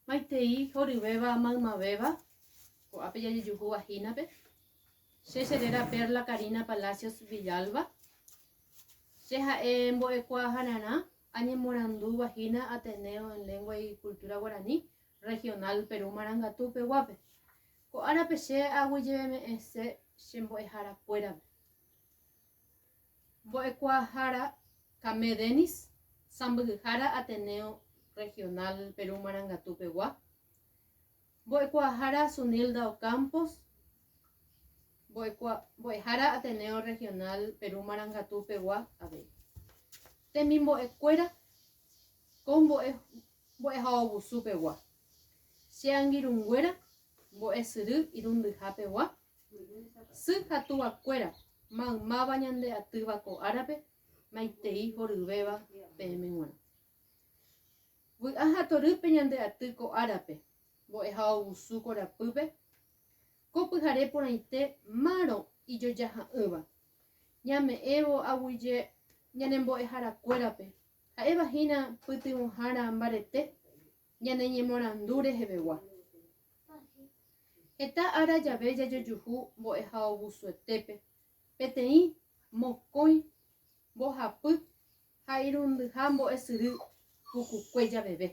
Maitei horyvéva maymavéva, ko'ápe jajejuhúva hínape. Che che réra Perla Karina Palacios Villalba. Che ha'e mbo'ekuaahararã añemorandúva hína Ateneo en Lengua y Cultura Guarani Regional Perú Marangatu peguápe. Ko árape che aguyjeme'ẽse che mbo'ehara kuérape. Mbo'ekuaahára Camé Denis, sãmbyhyhára Ateneo Regional Perú Marangatu pegua, Mbo'ekuaahára Zunilda Ocampos, Mbo'ehára Ateneo Regional Perú Marangatu pegua avei. Temimbo'ekuéra ko mbo'e mbo'ehaovusu pegua, Che angirũnguéra mbo'esyry irundyha pegua, Sy ha túva kuéra, maymáva ñande atýva ko árape, maitei horyvéva peẽme g̃uarã. Vy'a ha torýpe ñande aty ko árape, mbo'eha ogusu korapýpe, ko pyhare porãite márõ ijojaha'ỹva, ñame'ẽvo aguyje ñane mbo'ehara kuérape, ha'éva hína pytyvõhára mbarete, Ñane ñemorandu rehevegua. Heta ára jave jajojuhu mbo'ehaovusuetépe, peteĩ, mokõi, mbohapy ha irundyha mbo'esyry pukukue javeve.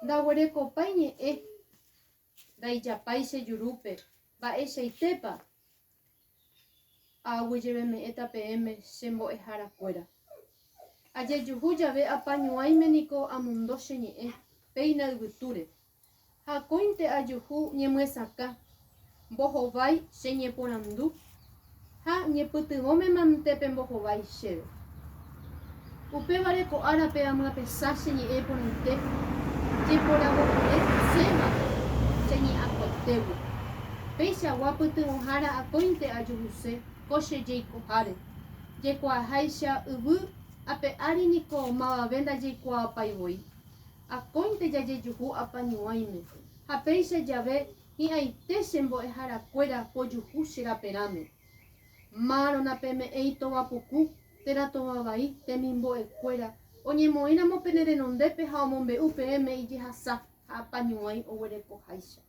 Ndaguerekopái ñe'ẽ Ndaijapái che jurúpe. Mba'eichaitépa? Aaguijeveme'ẽta peẽme che mbo'ehára kuéra. Ajejuhu jave apañuãime niko amondo che ñe'ẽ péina yvytúre. Ha akóinte ajuhu ñemyesakã. Mbohovái che ñeporandu Ha ñepytyvõmema nte pembohovái chéve. Upévare ko árape amyapesa che ñe'ẽ porãite, jeporavojere séva che ñe'akotégui. Peichagua pytyvõhára akóinte ajuhuse ko che jeikoháre, jaikuaaháicha yvy ape ári niko mavave ndajeikuaapái voi. Akóinte jajejuhu apañuãime, ha péicha jave Hi'ãite che mbo'ehára kuéra pojuhu che raperãme. Márõ napeme'ẽi tova puku, térã tova vai, temimbo'e kuéra, oñemoĩ ramo pene renondépe ha omombe'u peẽme ijehasa ha apañuãi oguereko háicha.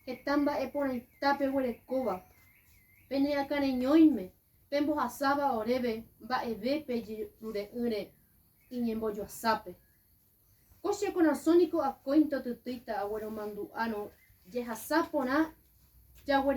Heta mba'e porãita peguerekóva. Pene akãreñóime, pembohasáva oréve mba'eve pe jerure'ỹre iñembojoasápe. Ko che korasõ niko akóinte otytýita agueromandu'árõ jehasa porã jaguerekóva.